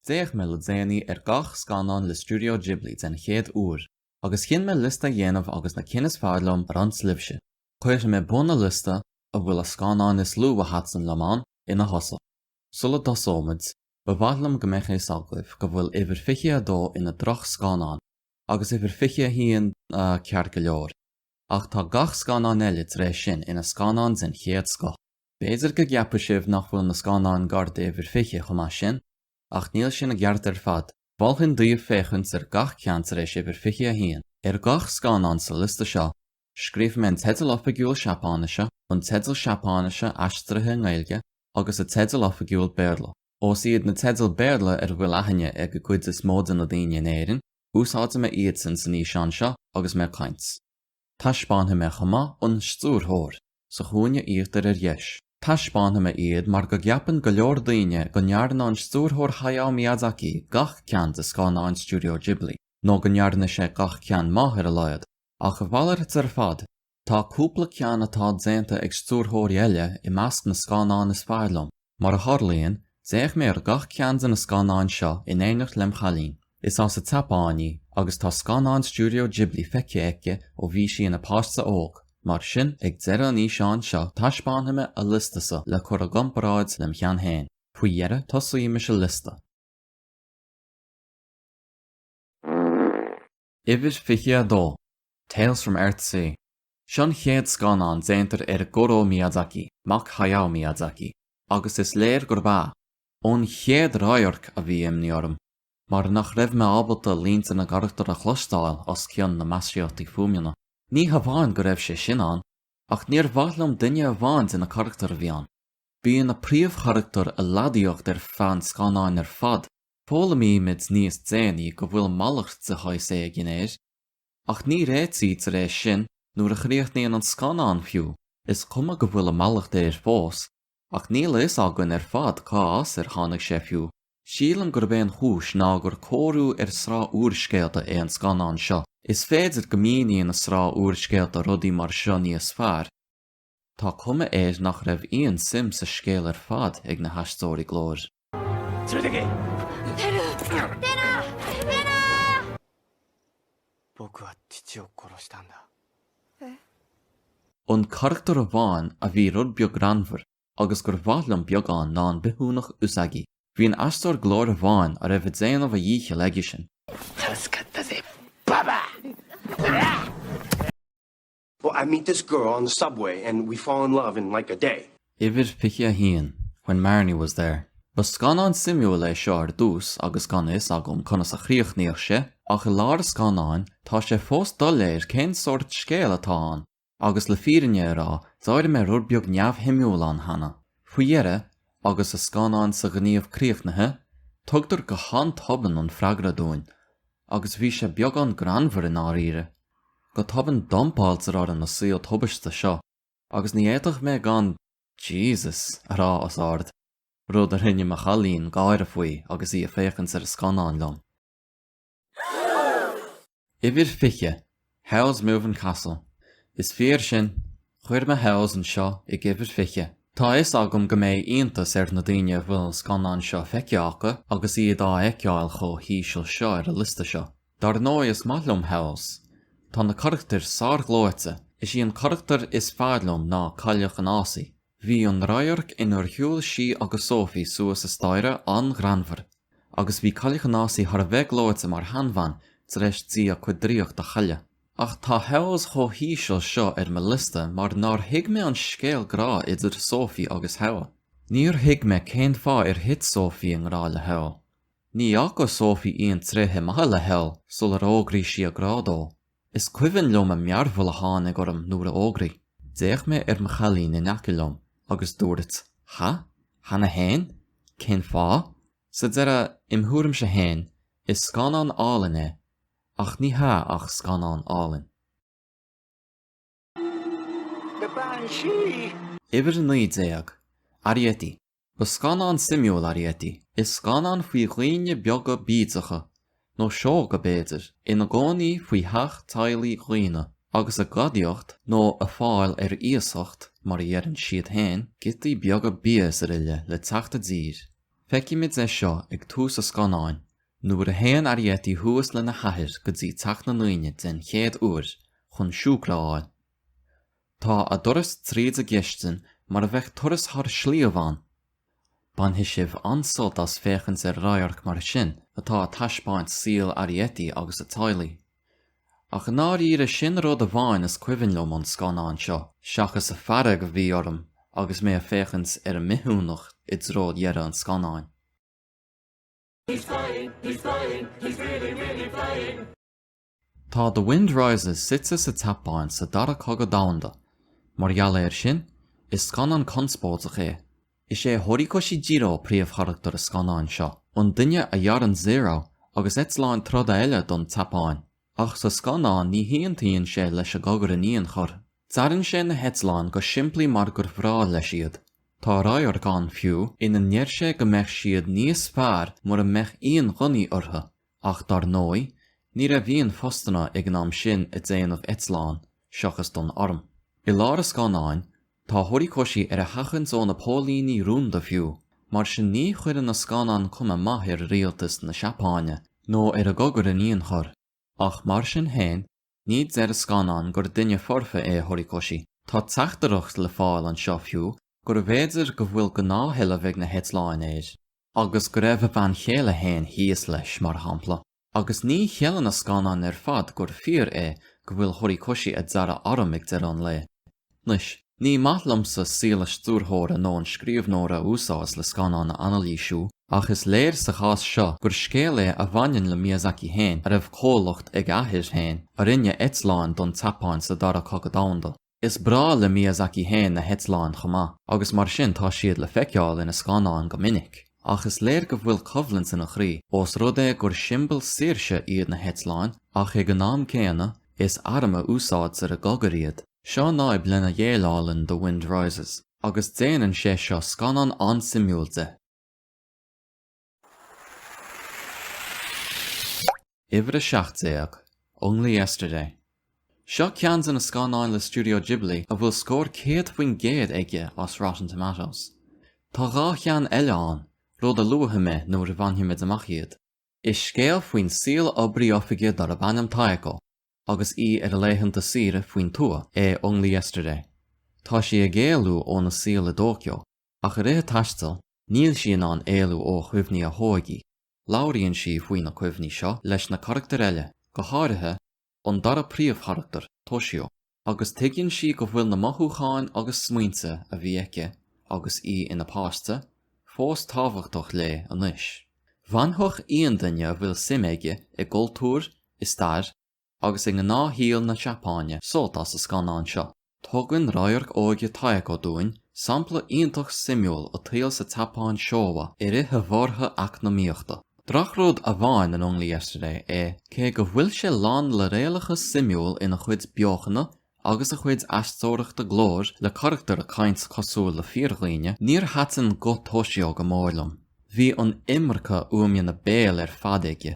D'fhéach mé le déanaí ar gach scannán le Studio Ghibli den chéad uair, agus chinn mé liosta a dhéanamh agus na cinn is fearr liom a roinnt libhse. Cuirfidh mé bun na liosta, a bhfuil a scannáin is lú a thaitn liom ann, ina thosach. Sula dtosóimid, ba mhaith liom go mbeadh fhios agaibh go bhfuil uimhir 22 ina droch scannán, agus uimhir 21, ina cheart go leor, ach tá gach scannán eile tar éis sin ina scannáin den chéad scoth. B'fhéidir go gceapfaidh sibh nach bhfuil na scannáin gar d'uimhir 20 chomh maith sin, ach níl sin i gceart ar fad. Mholfainn daoibh féachaint ar gach ceann tar éis uimhir 21. Ar gach scannán sa liosta seo, scríobh mé an teideal oifigiúil Seapáinise, an teideal Seapáinise aistrithe i nGaeilge, agus a teideal oifigiúil Béarla. Ós iad na teidil Béarla ar a bhfuil aithne ag an gcuid is mó de na daoine in Éirinn, úsáidfidh mé iadsan san fhíseán seo agus mé ag caint. Taispeánfaidh mé chomh maith an Stiúrthóir sa chúinne íochtair ar dheis. Taispeánfaidh mé iad mar go gceapann go leor daoine go ndearna an Stiúrthóir Hayao Miyazaki gach ceann de scannáin Studio Ghibli, nó go ndearna sé gach ceann maith ar a laghad, ach a mhalairt ar fad, tá cúpla ceann atá déanta ag stiúrthóirí eile i measc na scannán is fearr liom. Mar a tharlaíonn, d'fhéach mé ar gach ceann de na scannáin seo in éineacht lem' chailín. Is as an tSeapáin í, agus tá scannáin Stiúideo Ghibli feicthe aici ó bhí sí ina páiste óg. Mar sin, ag deireadh an fhíseáin seo taispeánfaidh mé a liostasa le cur i gcomparáid lem' cheann féin. Faoi dheireadh tosaímis a liosta. Uimhir 22, Tales from Earthsea, Seo an chéad scannán déanta ag Goro Miyazaki, mac Hayao Miyazaki, agus is léir gurb ea, ón chéad radharc a bhí imní orm mar nach raibh mé ábalta línte na gcarachtar a chloisteáil os cionn na maisíochtaí fuaimneanna. Ní hamháin go raibh sé sin ann, ach níor mhaith liom duine amháin de na carachtair a bhí ann. Bíonn na príomhcharachtair ag leadaíocht ar feadh an scannáin ar fad Foghlaimímid níos déanaí go bhfuil mallacht de shaghas éigin air, ach ní réitítear é sin nuair a chríochnaíonn an scannán fiú. Is cuma go bhfuil an mallacht air fós, ach níl a fhios againn ar fad cá as ar tháinig sé fiú. Sílim gurb é an chúis ná gur cóiriú ar sraith úrscéalta é an scannán seo. Is féidir go míníonn na sraith úrscéalta rudaí mar seo níos fearr. Tá cuma air nach raibh aon suim sa scéal ar fad ag na haisteoirí glóir. An carachtar amháin a bhí rud beag greannmhar agus gur mhaith liom beagán ná an bithiúnach Usagi. Bhí an aisteoir glóir amháin a raibh ag déanamh a dhíchill aigesean. Oh, I meet this girl on the subway and we fall in love in like a day. Uimhir 21, When Marnie Was There. Ba scannán suimiúil é seo ar dtús agus gan a fhios agam conas a chríochnódh sé, ach i lár an scannáin tá sé fós doiléir cén sórt scéal atá ann, agus le fírinne a rá d'éirigh mé rud beag neamhshuimiúil ann cheana. Faoi dheireadh, agus an scannán sa ghníomh críochnaithe, tugtar go han-tobann an freagra dúinn, agus bhí sé beagán greannmhar i ndáiríre. Go tobann dumpáiltear orainn na saol tubaiste seo agus ní fhéadfadh mé gan 'Jesus' a rá os ard, rud a rinne mo chailín gáire faoi agus í ag féachaint ar an scannán liom. Uimhir 20, Howl's Moving Castle. Is fíor sin, chuir mé Howl's anseo ag uimhir 20. Tá a fhios agam go mbeidh iontas ar na daoine a bhfuil an scannán seo feicthe acu agus iad á fheiceáil chomh híseal seo ar an liosta seo. Dar ndóigh is maith liom Howl's. Tá na carachtair sár-ghleoite. Is í an carachtar is fearr liom ná Cailleach an Fhásaigh. Bhí an radharc inar shiúil sí agus Sophie suas an staighre an-ghreannmhar. Agus bhí Cailleach an Fhásaigh thar a bheith gleoite mar sheanbhean tar éis di a cuid draíocht a chailleadh. Ach tá Howl's chomh híseal seo ar mo liosta mar nár thuig mé an scéal grá idir Sophie agus Howl. Níor thuig mé cén fáth ar thit Sophie i ngrá le Howl. Ní fhaca Sophie aon tréithe maithe le Howl sular fhógraigh sí a grá dó. Is cuimhin liom an mearbhall a tháinig orm nuair a d'fhógraigh. D'fhéach mé ar mo chailín in aice liom agus dúirt, Ha? Cheana fhéin? Cén fáth? Sa deireadh, im thuairimse fhéin, is scannán álainn é, ach ní hea ach scannán álainn. Uimhir a naoi déag, Arrietty. Ba scannán suimiúil Arrietty. Is scannán faoi dhaoine beaga bídeacha, nó sióga b'fhéidir, ina gcónaí faoi theach teaghlaigh dhaonna, agus ag gadaíocht nó ag fáil ar iasacht, mar a dheireann siad féin, giotaí beaga bia is araile le teacht i dtír. Feicimid é seo ag tús an scannáin, Nuair a théann Arrietty thuas lena hathair go dtí teach na ndaoine den chéad uair chun siúcra a fháil, tá a dturas tríd an gcistin mar a bheadh turas thar sliabh ann! Bainfidh sibh an-sult as féachaint ar radharc mar sin atá ag taispeáint saol Arrietty agus a teaghlaigh. Ach i ndáiríre sin an rud amháin is cuimhin liom ón scannán seo, seachas an fhearg a bhí orm agus mé ag féachaint ar an mbithiúnach i dtreo dheireadh an scannáin. He's flying, he's flying, he's really, really flying. Tá The Wind Rises suite sa tSeapáin sa Dara Cogadh Domhanda. Mar gheall air sin, is scannán conspóideach é. Is é Horikoshi Jiro príomhcharachtar an scannáin seo, an duine a dhearann Zero agus eitleáin troda eile don tSeapáin. Ach sa scannán ní haontaíonn sé leis an gcogadh in aon chor. Dearann sé na heitleáin go simplí mar gur bhreá leis iad. Tá radharc ann fiú ina ndeir sé go mbeadh siad níos fearr mura mbeadh aon ghunnaí orthu, ach dar ndóigh ní raibh aon phostanna ag an am sin i déanamh eitleán, seachas don arm. I lár a scannáin Tá Horikoshi ar a sheachaint ó na póilíní rúnda fiú, mar sin ní chuireann an scannán cuma mhaith ar rialtas na Seapáine, nó ar an gcogadh in aon chor. Ach mar sin féin, ní deir an scannán gur duine foirfe é Horikoshi. Tá teachtaireacht le fáil anseo fiú gurbh fhéidir go bhfuil gnáthsheilbh ag na heitleáin air. Agus go raibh a bhean chéile féin thíos leis, mar shampla. Agus ní cheileann an scannán ar fad gur fíor é go bhfuil Horikoshi ag dearadh arm ag deireadh an lae. Anois, ní maith liomsa saol an stiúrthóra nó an scríobhnóra a úsáid le scannán a anailísiú, ach is léir sa chás seo gur scéal é a bhaineann le Miyazaki féin a raibh comhlacht ag a athair féin a rinne eitleáin don tSeapáin sa Dara Cogadh Domhanda. Is breá le Miyazaki féin na heitleáin chomh maith, agus mar sin tá siad le feiceáil ina scannáin go minic. Ach is léir go bhfuil coimhlint ina chroí, ós rud é gur siombail saoirse iad na heitleáin ach ag an am céanna is arm a úsáidtear i gcogadh iad. Seo an fhadhb lena ndéileálann The Wind Rises, agus déanann sé seo scannán an-suimiúil de. Uimhir a seacht déag, Only Yesterday. Seo ceann de na scannáin le Studio Ghibli a bhfuil scór 100% aige ar Rotten Tomatoes. Tá dhá cheann eile ann, rud a luafaidh mé nuair a bhainfimid amach iad. Is scéal faoi shaol oibrí oifige darb ainm Taeko agus í ar a laethanta saoire faoin tuath é Only Yesterday. Tá sí ag éalú óna saol i dTóiceo ach i rith a taistil níl sí in ann éalú ó chuimhní a hóige. Labhraíonn sí faoi na cuimhní seo leis na carachtair eile, go háirithe an dara príomhcharachtar, Toshio, agus tuigeann sí go bhfuil na mothúcháin agus smaointe a bhí aici agus í ina páiste fós tábhachtach léi anois. Bhainfeadh aon duine a bhfuil suim aige i gcultúr, i stair, agus i ngnáthshaol na Seapáine sult as an scannán seo. Tugann radharc óige Taeko dúinn sampla iontach suimiúil den tsaol sa tSeapáin Showa i rith an bhorrtha eacnamaíochta. Drochrud amháin in Only Yesterday é cé go bhfuil sé lán le réalachas suimiúil ina chuid beochana agus a chuid aisteoireachta glóir le carachtair ag caint cosúil le fíordhaoine níor thaitin guth Toshio go mór liom. Bhí an iomarca fuaimeanna béil ar fad aige.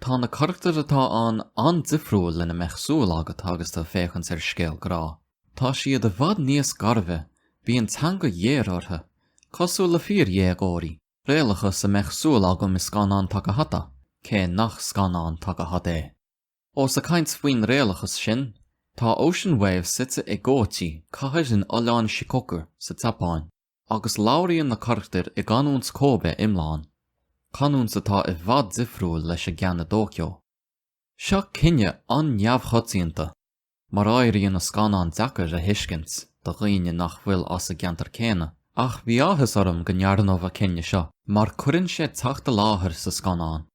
Tá na carachtair atá ann an-difriúil lena mbeadh súil agat agus tú ag féachaint ar scéal grá. Tá siad i bhfad níos gairbhe, bíonn teanga ghéar orthu, cosúil le fíordhéagóirí, réalachas lena mbeadh súil agam i scannán Takahata, cé nach scannán Takahata é. Ós ag caint faoin réalachas sin, tá Ocean Waves suite i gKochi, cathair in oileán Shikoku sa tSeapáin. Agus labhraíonn na carachtair i gcanúint Kobe iomlán, canúint atá i bhfad difriúil leis an gceann i dTóiceo. Seo cinneadh an-neamhchoitianta, mar éiríonn an scannán deacair a thuiscint do dhaoine nach bhfuil as an gceantar céanna, ach bhí áthas orm go ndearnadh an cinneadh seo mar cuireann sé teacht i láthair sa scannán.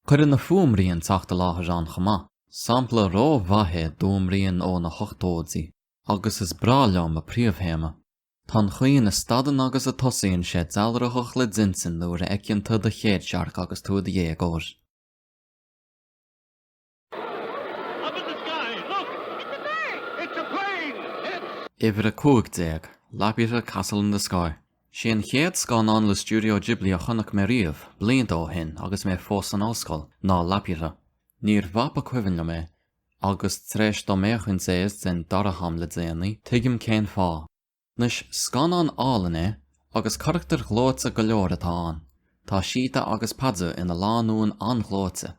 Cuireann an fuaimrian teacht i láthair ann chomh maith, sampla ró-mhaith d'fhuaimrian ó na hochtóidí, agus is breá liom a príomhthéama. Tá an chaoi ina stadann agus a tosaíonn sé dealraitheach le d'intinn nuair a fheiceann tú do chéadsearc agus tú i do dhéagóir. Uimhir a cúig déag, Laputa Castle in the Sky. Is é an chéad scannán le Studio Ghibli a chonaic mé riamh, blianta ó shin agus mé fós san ollscoil, ná Laputa. Níor mhaith ba cuimhin liom é, Agus tar éis dom féachaint siar don dara ham le déanaí, tuigim cén fáth. Anois, scannán álainn é, agus carachtair ghleoite go leor atá ann. Tá Sheeta agus Pazu ina lánúin an-ghleoite,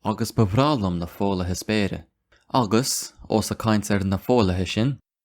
agus ba bhreá liom na foghlaithe spéire. Agus, os ag caint faoi na foghlaithe sin,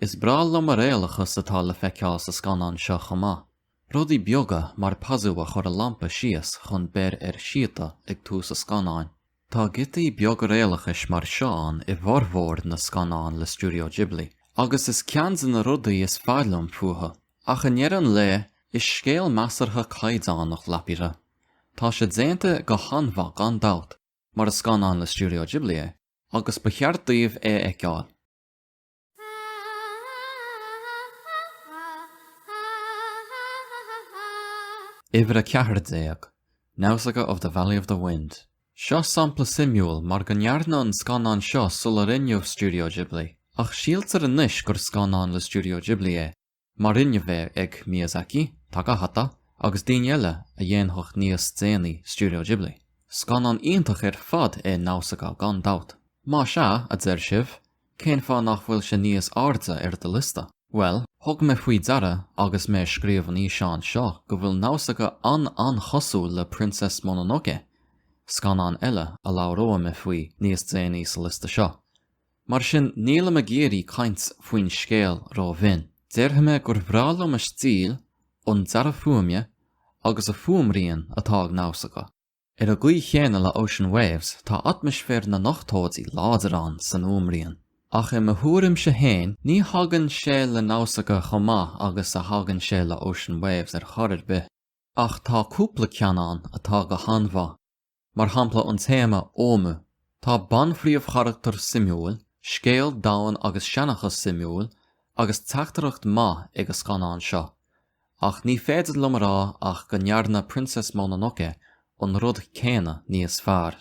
Is breá liom an réalachas atá le feiceáil sa scannán seo chomh maith, rudaí beaga mar Pazu a chur a lampa síos chun beir ar Sheeta ag tús an scannáin. Tá giotaí beaga réalachais mar seo ann i bhformhór na scannán le Studio Ghibli, agus is ceann de na rudaí is fearr liom fúthu. Ach i ndeireadh an lae, is scéal measartha caighdeánach é Laputa. Tá sé déanta go han-mhaith gan dabht, mar is scannán le Studio Ghibli é, agus ba cheart daoibh é a fheiceáil. Uimhir a ceathair déag, Nausicaa of the Valley of the Wind. Seo sampla suimiúil mar go ndearnadh an scannán seo sula rinneadh Studio Ghibli, ach síltear anois gur scannán le Studio Ghibli é. mar rinneadh é ag Miyazaki, Takahata agus daoine eile a dhéanfadh níos déanaí Studio Ghibli. Scannán iontach ar fad é Nausicaa gan dabht. Más ea, a deir sibh, cén fáth nach bhfuil sé níos airde ar do liosta? Bhuel, thug mé faoi deara agus mé ag scríobh an fhíseáin seo go bhfuil Nausicaa an-an-chosúil le Princess Mononoke, scannán eile a labhróidh mé faoi níos déanaí sa liosta seo. Mar sin nílim ag iarraidh caint faoin scéal rómhion. Déarfaidh mé gur bhreá liom an stíl, an dearadh fuaime agus an fuaimrian atá ag Nausicaä. Ar an gcaoi chéanna le Ocean Waves tá atmaisféar na n-ochtóidí láidir ann san fhuaimrian. Ach i mo thuairimse féin ní thagann sé le Nausicaä chomh maith agus a thagann sé le Ocean Waves ar chor ar bith. Ach tá cúpla ceann ann atá go han-mhaith. mar shampla an téama Ohmu. Tá banphríomhcharachtar suimiúil, scéal domhain agus seanchas suimiúil agus teachtaireacht maith ag an scannán seo, ach ní féidir liom a rá ach go ndearna Princess Mononoke an rud céanna níos fearr.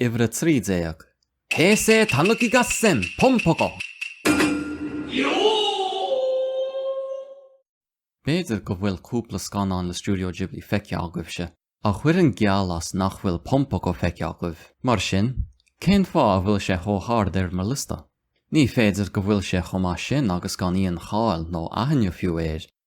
Uimhir a trí déag. Heisei Tanuki Gassen Pom Poko. B'fhéidir go bhfuil cúpla scannán le Studio Ghibli feicthe agaibhse ach chuirfinn geall as nach bhfuil Pom Poko feicthe agaibh. Mar sin, cén fáth a bhfuil sé chomh hard ar mo liosta? Ní féidir go bhfuil sé chomh maith sin agus gan aon cháil nó aithne fiú air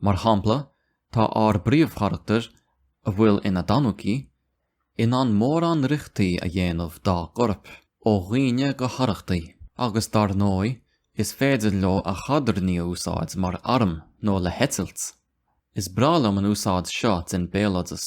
Mar shampla, tá ár bpríomhcharachtar, a bhfuil ina dtanuki, in ann mórán riochtaí a dhéanamh dá gcorp, ó dhaoine go harrachtaí, agus dar ndóigh is féidir leo a chadairní a úsáid mar arm nó le heitilt. Is breá liom an úsáid seo den béaloideas.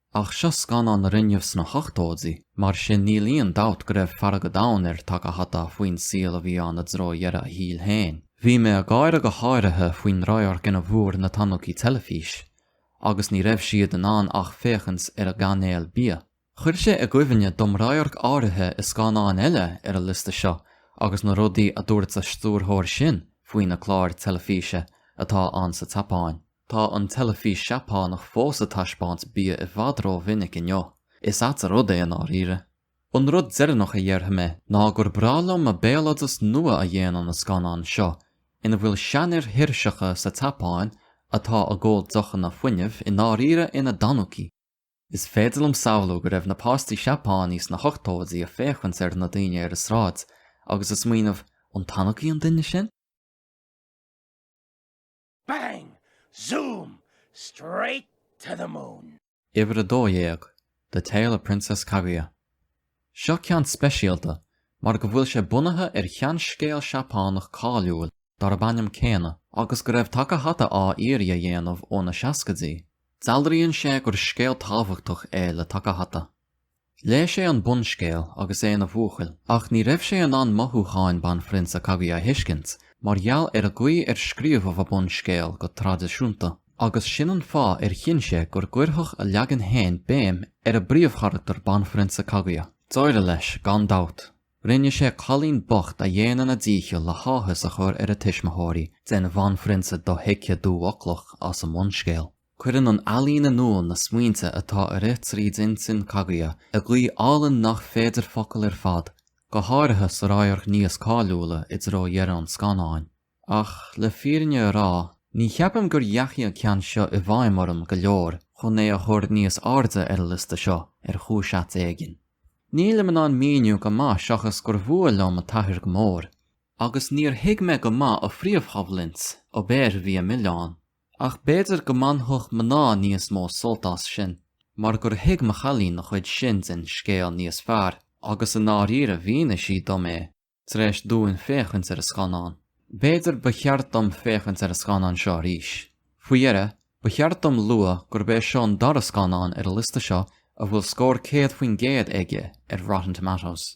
Ach seo scannán a rinneadh sna hochtóidí, mar sin níl aon dabht go raibh fearg an domhain ar Takahata faoin saol a bhí ann i dtreo dheireadh a shaoil féin. Bhí mé ag gáire go háirithe faoin radharc ina bhfuair na Tanuki teilifís agus ní raibh siad in ann ach féachaint ar an gcainéal bia. Chuir sé i gcuimhne dom radharc áirithe i scannán eile ar an liosta seo agus na rudaí a dúirt a stiúrthóir sin faoi na cláir teilifíse atá ann sa tSeapáin. Tá an teilifís Seapánach fós ag taispeáint bia i bhfad rómhinic inniu. Is ait an rud é i ndáiríre. An rud deireanach a dhéarfaidh mé ná gur breá liom an béaloideas nua a dhéanann an scannán seo ina bhfuil seanfhir thuirseacha sa tSeapáin atá ag ól deochanna fuinnimh i ndáiríre ina dtanuki! Is féidir liom samhlú go raibh na páistí Seapánaí sna hochtóidí ag féachaint ar na daoine ar an sráid agus ag smaoineamh, 'An tanuki an duine sin? Bang! Zoom! Straight to the moon! Uimhir a dó dhéag, The Tale of Princess Kaguya. Seo ceann speisialta mar go bhfuil sé bunaithe ar sheanscéal Seapánach cáiliúil darb ainm céanna agus go raibh Takahata á iarraidh a dhéanamh ó na seascaidí. Dealraíonn sé gur scéal tábhachtach é le Takahata. Léigh sé an bunscéal agus é ina bhuachaill ach ní raibh sé in ann mothúcháin Banphrionsa Kaguya a thuiscint mar gheall ar an gcaoi ar scríobhadh an bunscéal go traidisiúnta, agus sin an fáth ar chinn sé gur gcuirfeadh a leagan féin béim ar an bpríomhcharachtar Banphrionsa Kaguya. D'éirigh leis, gan dabht. Rinne sé cailín bocht a dhéanann a dícheall le háthas a chur ar a tuismitheoirí den bhanphrionsa dothuigthe dúfhoclach as an mbunscéal. Cuireann an ealaín in iúl na smaointe atá ag rith trí intinn Kaguya i gcaoi álainn nach féidir focail ar fad, go háirithe sa radharc níos cáiliúla i dtreo dheireadh an scannáin. Ach, le fírinne a rá, ní cheapaim gur ndeachaigh an ceann seo i bhfeidhm orm go leor chun é a chur níos airde ar an liosta seo, ar chúis ait éigin. Nílim in ann míniú go maith seachas gur mhór liom an t-athair go mór, agus níor thuig mé go maith a phríomhchoimhlint, ó, b'fhéidir bhí an milleán. Ach b'fhéidir go mbainfeadh mná níos mó sult as sin mar gur thuig mo chailín an chuid sin den scéal níos fearr agus i ndáiríre mhínigh sí dom é tar éis dúinn féachaint ar an scannán. B'fhéidir ba cheart dom féachaint ar an scannán seo arís. Faoi dheireadh, ba cheart dom lua gurb é seo an dara scannán ar an liosta seo a bhfuil scór 100% aige ar Rotten Tomatoes.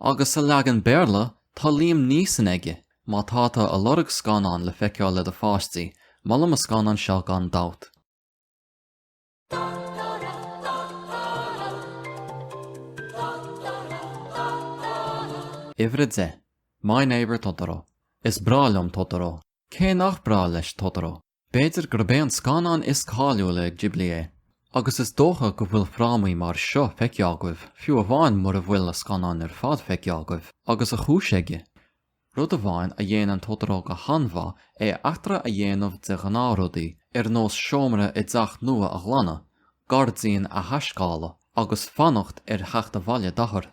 Agus sa leagan Béarla tá Liam Neeson aige! Má tá tú ag lorg scannán le feiceáil le do pháistí, molaim an scannán seo gan dabht. Uimhir a deich, My Neighbour Totoro. Is breá liom Totoro. Cé nach breá leis Totoro? B'fhéidir gurb é an scannán is cáiliúla ag Ghibli é, agus is dócha go bhfuil frámaí mar seo feicthe agaibh, fiú amháin mura bhfuil an scannán ar fad feicthe agaibh, agus a chúis aige. Rud amháin a dhéanann Totoro go han-mhaith é eachtra a dhéanamh de ghnáthrudaí, ar nós seomra i dteach nua a ghlanadh, gairdín a thaiscéaladh, agus fanacht ar theacht abhaile d'athair.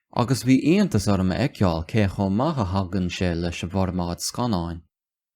agus bhí iontas orm a fheiceáil cé chomh maith a thagann sé leis an bhformáid scannáin.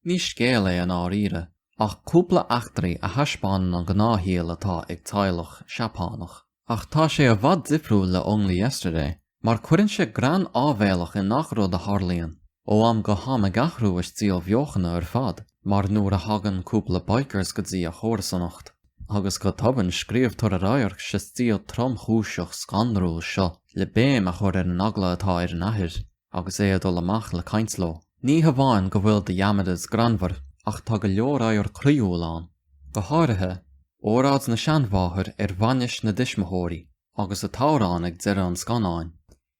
Ní scéal é i ndáiríre, ach cúpla eachtraí a thaispeánann an gnáthshaol atá ag teaghlach Seapánach. Ach tá sé i bhfad difriúil le Only Yesterday, mar cuireann sé greann áibhéalach i ngach rud a tharlaíonn, ó am go ham ag athrú a stíl bheochana ar fad. mar nuair a thagann cúpla bikers go dtí an chomharsanacht agus go tobann scríobhtar an radharc sa stíl tromchúiseach scanrúil seo le béim a chur ar an eagla atá ar an athair agus é ag dul amach le caint leo. Ní hamháin go bhfuil The Yamadas greannmhar ach tá go leor ábhair croíúil ann, go háirithe, óráid na seanmháthar ar bhainis na dtuismitheoirí agus an t-amhrán ag deireadh an scannáin.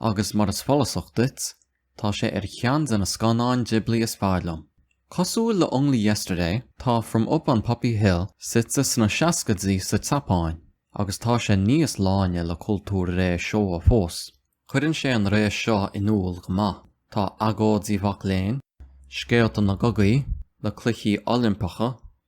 Agus mar is follasach duit, tá sé ar cheann de na scannáin Ghibli is fearr liom. Cosúil le Only Yesterday, tá From Up on Poppy Hill suite sna seascaidí sa tSeapáin, agus tá sé níos láine le cultúr ré Showa fós. Cuireann sé an ré seo in iúl go maith, tá agóidí mhac léinn, scéalta na gcogaí, le cluichí Oilimpeacha,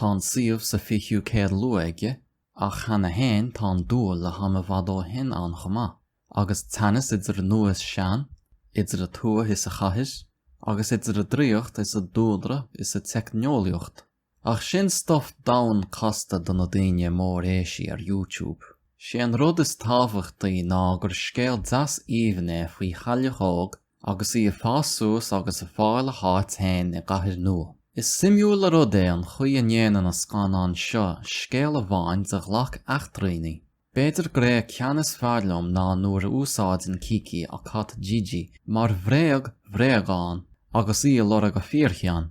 Tá an suíomh sa 20ú céad luath aige, ach cheana fhéin tá an dúil le ham i bhfad ó shin ann chomh maith, agus teannas idir nua is sean, idir an tuath is an chathair, agus idir an draíocht is an dúlra is an teicneolaíocht. Ach sin stuif domhain casta do na daoine móréisí ar YouTube. Sé an rud is tábhachtaí ná gur scéal deas aoibhinn é faoi chailleach óg agus í ag fás suas agus ag fáil a háit féin i gcathair nua. Is suimiúil an rud é an chaoi a ndéanann an scannán seo scéal amháin de ghlac eachtraí. B'fhéidir gurb é an ceann is fearr liom ná nuair a úsáideann Kiki a cat Jiji mar bhréag bhréagán agus í ag lorg an fhíorchinn.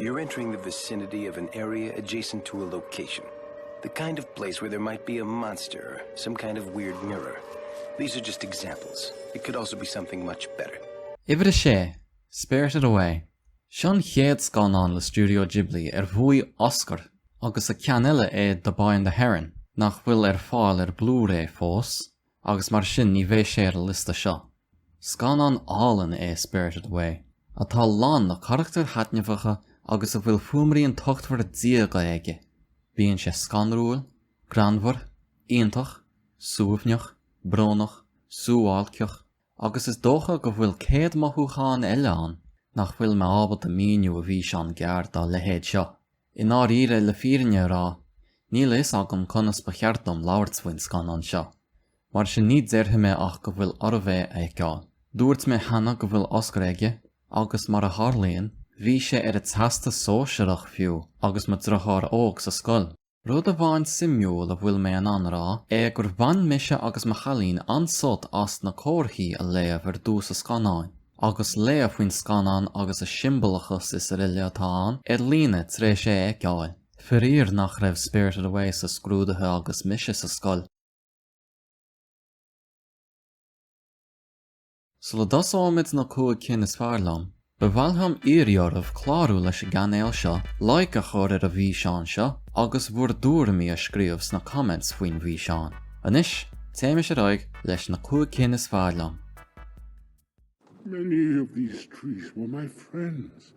You're entering the vicinity of an area adjacent to a location. The kind of place where there might be a monster, some kind of weird mirror. These are just examples. It could also be something much better. Uimhir 6, Spirited Away. Seo an chéad scannán le Studio Ghibli ar bhuaigh Oscar agus a ceann eile é The Boy and the Heron, nach bhfuil ar fáil ar Blu-ray fós, agus mar sin ní bheidh sé ar an liosta seo. Scannán álainn é Spirited Away, atá lán le carachtair thaitneamhacha agus a bhfuil fuaimrian tochtmhar diaga aige. Bíonn sé scanrúil, greannmhar, iontach, suaimhneach, brónach, suáilceach, agus is dócha go bhfuil céad mothúchán eile ann nach bhfuil mé ábalta a mhíniú i bhfíseán gearr dá leithéid seo. I ndáiríre, le fírinne a rá, níl a fhios agam conas ba cheart dom labhairt faoin scannán seo, mar sin ní déarfaidh mé ach go bhfuil oraibh é a fheiceáil. Dúirt mé cheana go bhfuil Oscar aige, agus mar a tharlaíonn, bhí sé ar an Teastas Sóisearach fiú agus mo dheartháir óg sa scoil. Rud amháin suimiúil a bhfuil mé in ann a rá é gur bhain mise agus mo chailín an-sult as na comharthaí a léamh ar dtús an scannáin, agus léamh faoin scannán agus an siombalachas is araile atá ann ar líne tar éis é a fheiceáil. Faraor nach raibh Spirited Away sna scrúduithe agus mise sa scoil. Sula dtosóimid na 5 cinn is fearr liom, ba mhaith liom iarraidh oraibh clárú leis an gcainéal seo, like a chur ar an bhfíseán seo agus bhur dtuairimí a scríobh sna comments faoin bhfíseán. Anois, téimis ar aghaidh leis na 5 cinn is fearr liom! Many of these trees were my friends.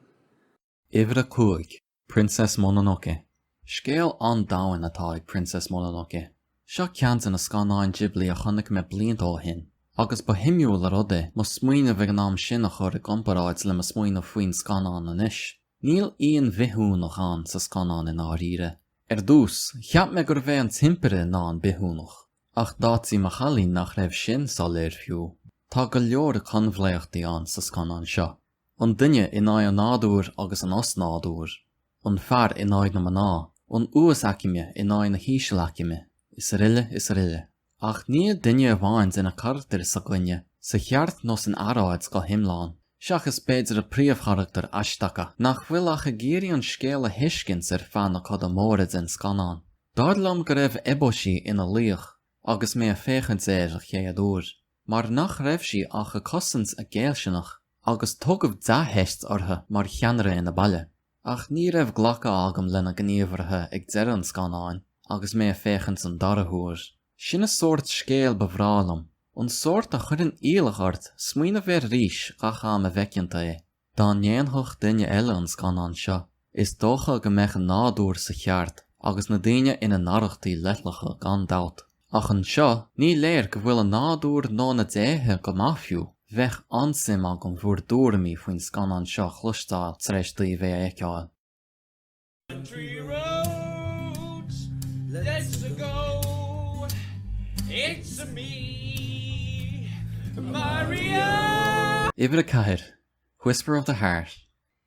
Uimhir a cúig, Princess Mononoke. Scéal an-domhain atá ag Princess Mononoke. Seo ceann de na scannáin Ghibli a chonaic mé blianta ó shin, agus ba shuimiúil an rud é mo smaoineamh ag an am sin a chur i gcomparáid le mo smaoineamh faoin scannán anois. Níl aon bhithiúnach ann sa scannán i ndáiríre. Ar dtús, cheap mé gurbh é an tImpire ná an bithiúnach, ach d'áitigh mo chailín nach raibh sin soiléir fiú. Tá go leor coinbhleachtaí ann sa scannán seo. an duine in aghaidh an nádúir agus an osnádúir, an fear in aghaidh na mná, an uasaicme in aghaidh na hísealaicme, is aroile is aroile. Ach níl duine amháin de na carachtair s'againne sa cheart nó san earráid go hiomlán, seachas b'fhéidir an príomhcharachtar Ashitaka, nach bhfuil ach ag iarraidh an scéal a thuiscint ar feadh na coda móire den scannán. Dar liom go raibh Eboshi ina laoch agus mé ag féachaint air a chéad uair. mar nach raibh sí ach a cosaint a géillsineach agus tugadh dea-theist uirthi mar cheannaire ina baile. Ach ní raibh glacadh agam lena gníomhartha ag deireadh an scannáin agus mé a féachaint an dara huair. Sin a sórt scéil ba bhreá liom, an sórt a chuireann iallach ort smaoineamh air arís gach am a bhfeiceann tú é. Dá ndéanfadh duine eile an scannán seo, is dócha go mbeadh a nádúr sa cheart agus na daoine ina n-arrachtaí leithleacha gan dabht. Ach anseo, ní léir go bhfuil a nádúr nó na déithe go maith fiú. Beidh an-suim agam bhur dtuairimí faoin scannán seo a chloisteáil tar éis daoibh é a fheiceáil. Uimhir a ceathair, Whisper of the Heart,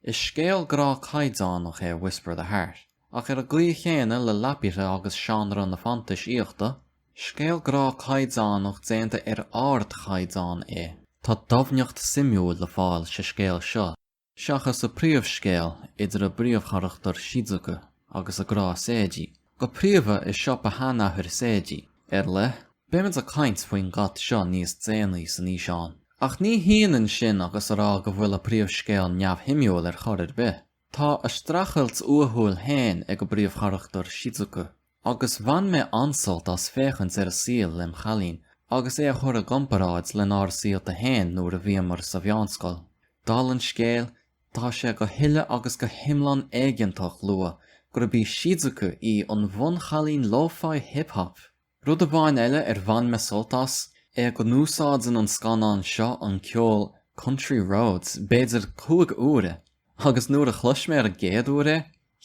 Is scéal grá caighdeánach é Whisper of the Heart, ach ar an gcaoi chéanna le Laputa agus seánra na fantaisíochta, scéal grá caighdeánach déanta ar ardchaighdeán é. Tá doimhneacht suimiúil le fáil sa scéal seo. Seachas a príomhscéal idir a bpríomhcharachtar Shizuka agus a grá Seiji, go príomha i siopa sheanathair Seiji, a leithéid, beimid ag caint faoin gcat seo níos déanaí san fhíseán. Ach ní hionann sin agus a rá go bhfuil a príomhscéal neamhshuimiúil ar chor ar bith. Tá a streachailt uathúil féin ag a bpríomhcharachtar Shizuka. agus bhain mé an-sult as féachaint ar a saol lem' chailín agus é a chur i gcomparáid lenár saolta fhéin nuair a bhíomar sa mheánscoil. Dála an scéil, tá sé go huile agus go hiomlán éigeantach lua gurb í Shizuka í an bhunchailín lo-fi hip hop! Rud amháin eile ar bhain mé sult as, é go n-úsáideann an scannán seo an ceol Country Roads b'fhéidir cúig uaire, agus nuair a chlois mé ar an gcéad uair é,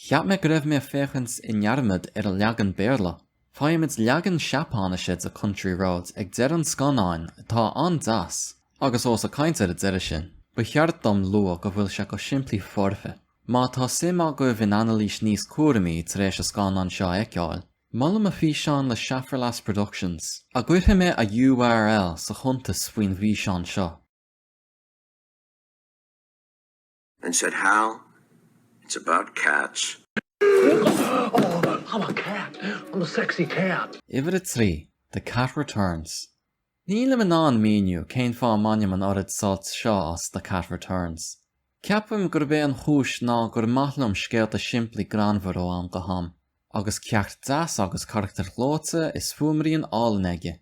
Cheap mé go raibh mé ag féachaint i ndearmad ar an leagan Béarla. Faighimid leagan Seapáinise de Country Roads ag deireadh an scannáin atá an-deas, agus ós ag caint ar an deireadh sinn, ba cheart dom lua go bhfuil sé go simplí foirfe. Má tá suim agaibh in anailís níos cúramaí tar éis an scannáin seo a fheiceáil, molaim a físeán le Schaffrillas Productions, a gcuirfidh mé a URL sa chuntas faoin bhfíseán seo. and said, Hal, it's about cats. I'm a cat. I'm a sexy cat. Uimhir a trí, The Cat Returns. Nílim in ann míniú cén fáth a mbainim an oiread sult seo as The Cat Returns. Ceapaim gurb é an chúis ná gur maith liom scéalta simplí greannmhar ó am go ham, agus ceacht deas agus carachtair ghleoite is fuaimrian álainn aige.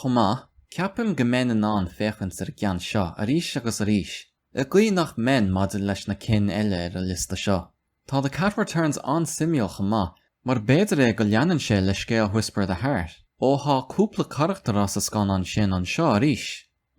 Chomh maith, ceapaim go mbeinn in ann féachaint ar an gceann seo arís agus arís I gcaoi nach mbeinn maidir leis na cinn eile ar an liosta seo, tá The Cat Returns an-suimiúil chomh maith, mar b'fhéidir é go leanann sé le scéal Whisper of the Heart, ó thá cúpla carachtar as an scannán sin anseo arís.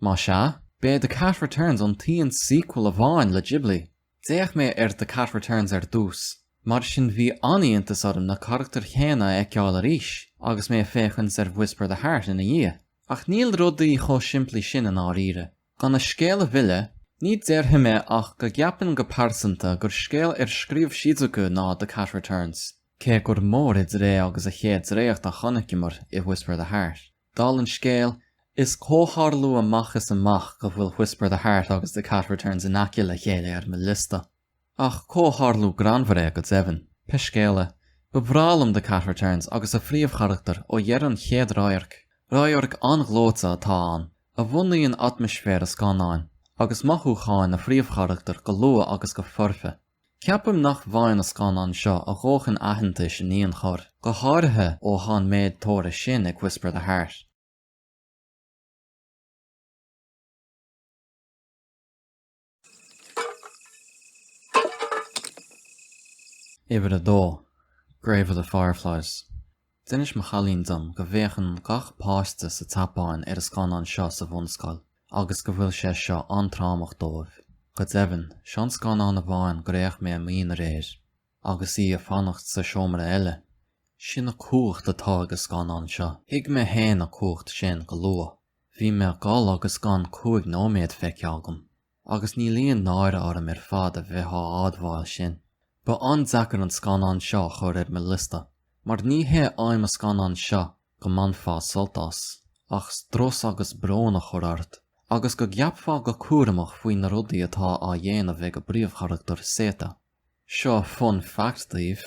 Más ea, b'é The Cat Returns an t-aon sequel amháin le Ghibli. D'fhéach mé ar The Cat Returns ar dtús, mar sin bhí an-iontas orm na carachtair chéanna a fheiceáil arís agus mé ag féachaint ar Whisper of the Heart ina dhiaidh. Ach níl rudaí chomh simplí sin i ndáiríre. Gan an scéal a mhilleadh, ní déarfaidh mé ach go gceapaim go pearsanta gur scéal ar scríobh Shizuku ná The Cat Returns, cé gur mór idir é agus an chéad dréacht a chonaiceamar i Whisper of the Heart. Dála an scéil, is comhtharlú amach is amach go bhfuil Whisper of the Heart agus The Cat Returns in aice le chéile ar mo liosta. Ach comhtharlú greannmhar é go deimhin. Pé scéal é, ba bhreá liom The Cat Returns agus a phríomhcharachtar ó dheireadh an chéad radhairc. Radharc an-ghleoite atá ann, a bhunaíonn atmaisféar an scannáin, agus mothúcháin an phríomhcharachtair go luath agus go foirfe. Ceapaim nach bhfaigheann an scannán seo a dhóthain aitheantais in aon chor, go háirithe ó tá an méid tóra sin ag Whisper of the Heart. Uimhir a dó, Grave of the Fireflies. D'inis mo chailín dom go bhféachann gach páiste sa tSeapáin ar an scannán seo sa bhunscoil agus go bhfuil sé seo an-trámach dóibh. Go deimhin, seo an scannán amháin gur fhéach mé i m'aonar air. Agus í ag fanacht sa seomra eile. Sin an cumhacht atá ag an scannán seo. Thuig mé féin an cumhacht sin go luath. Bhí mé ag gol agus gan cúig nóiméad feicthe agam, agus níl aon náire orm ar fad a bheith á admháil sin. Ba an-deacair an scannán seo a chur ar mo liosta, mar ní hé aidhm an scannán seo go mbainfeá sult as, ach strus agus brón a chur ort, agus go gceapfá go cúramach faoi na rudaí atá á dhéanamh ag an bpríomhcharachtar Seita. Seo fun fact daoibh,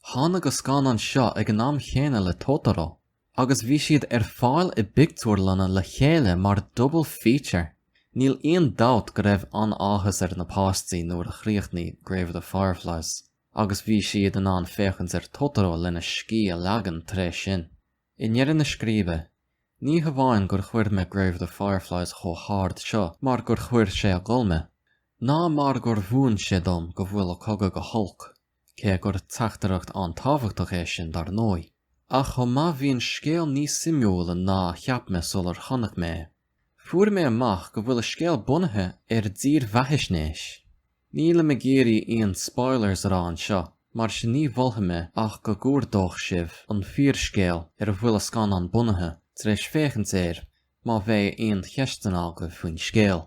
tháinig an scannán seo ag an am chéanna le Totoro! Agus bhí siad ar fáil i bpictiúrlanna le chéile mar double feature. Níl aon dabht go raibh an-áthas ar na páistí nuair a chríochnaigh Grave of the Fireflies agus bhí siad in ann féachaint ar Totoro lena scíth a ligean tar éis sin. I ndeireadh na scríbe, ní hamháin gur chuir mé Grave of the Fireflies chomh hard seo mar gur chuir sé ag gol mé, ná mar gur mhúin sé dom go bhfuil cogadh go holc. cé gur teachtaireacht an-tábhachtach é sin dar ndóigh, ach chomh maith bhí an scéal níos suimiúla ná a cheap mé sular chonaic mé é. Fuair mé amach go bhfuil an scéal bunaithe ar dhírbheathaisnéis. Nílim ag iarraidh aon spoilers a rá anseo, mar sin ní mholfaidh mé ach go gcuardódh sibh an fíorscéal ar a bhfuil an scannán bunaithe, tar éis féachaint air, má bheidh aon cheisteanna agaibh faoin scéal.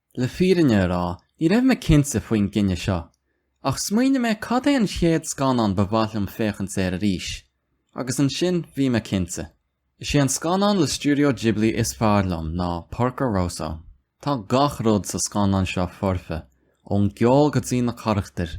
Le fírinne a rá ní raibh mé cinnte faoin gcinneadh seo, ach smaoinigh mé cad é an chéad scannán ba mhaith liom féachaint air arís, agus ansin bhí mé cinnte. Is é an scannán le Studio Ghibli is fearr liom ná Porco Rosso. Tá gach rud sa scannán seo foirfe, ón gceol go dtí na carachtair.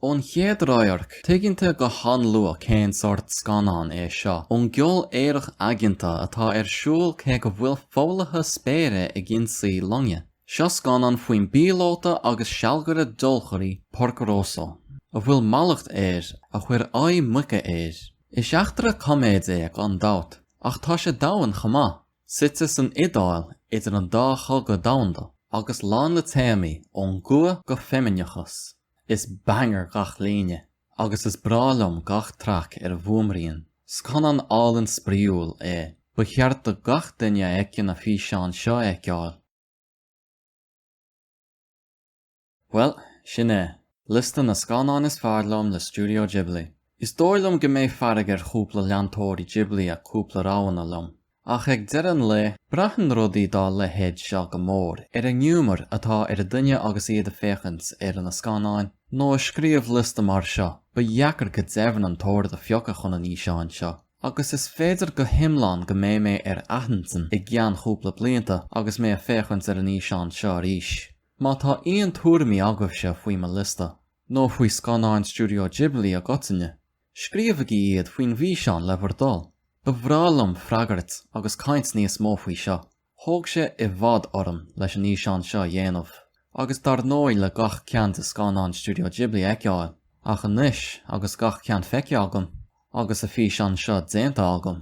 Ón chéad radharc, tuigeann tú go han-luath cén sórt scannán é seo. Ón gceol aerach aigeanta atá ar siúl cé go bhfuil foghlaithe spéire ag ionsaí loinge, seo scannán faoin bpíolóta agus sealgaire deolchairí Porco Rosso, a bhfuil mallacht air a chuir aghaidh muice air. Is eachtra coiméide é gan dabht, ach tá sé domhain chomh maith, suite san Iodáil idir an dá chogadh domhanda, agus lán le téamaí ón gcumha go feimineachas. Is banger gach líne agus is breá liom gach traic ar an bhfuaimrian. Scannán álainn spraíúil é. Ba cheart do gach duine a fheiceann an físeán seo a fheiceáil. Bhuel, sin é, liosta na scannáin is fearr liom le Studio Ghibli. Is dóigh liom go mbeidh fearg ar chúpla leantóirí Ghibli as cúpla roghanna liom. Ach ag deireadh an lae, braitheann rudaí dá leithéid seo go mór ar an ngiúmar atá ar duine agus iad ag féachaint ar na scannáin, nó ag scríobh liosta mar seo, ba dheacair go deimhin an t-ord a phiocadh chun an fhíseáin seo, agus is féidir go hiomlán go mbeidh mé ar athintinn i gceann chúpla blianta agus mé ag féachaint ar an bhfíseán seo arís. Má tá aon tuairimí agaibhse faoi mo liosta, nó faoi scannáin Studio Ghibli i gcoitinne, Scríobhaigí iad faoin bhfíseán le bhur dtoil. Ba bhreá liom freagairt agus caint níos mó faoi seo. Thóg sé i bhfad orm leis an fhíseán seo a dhéanamh, agus dar ndóigh le gach ceann de scannáin Studio Ghibli a fheiceáil, ach anois agus gach ceann feicthe agam, agus an físeán seo déanta agam,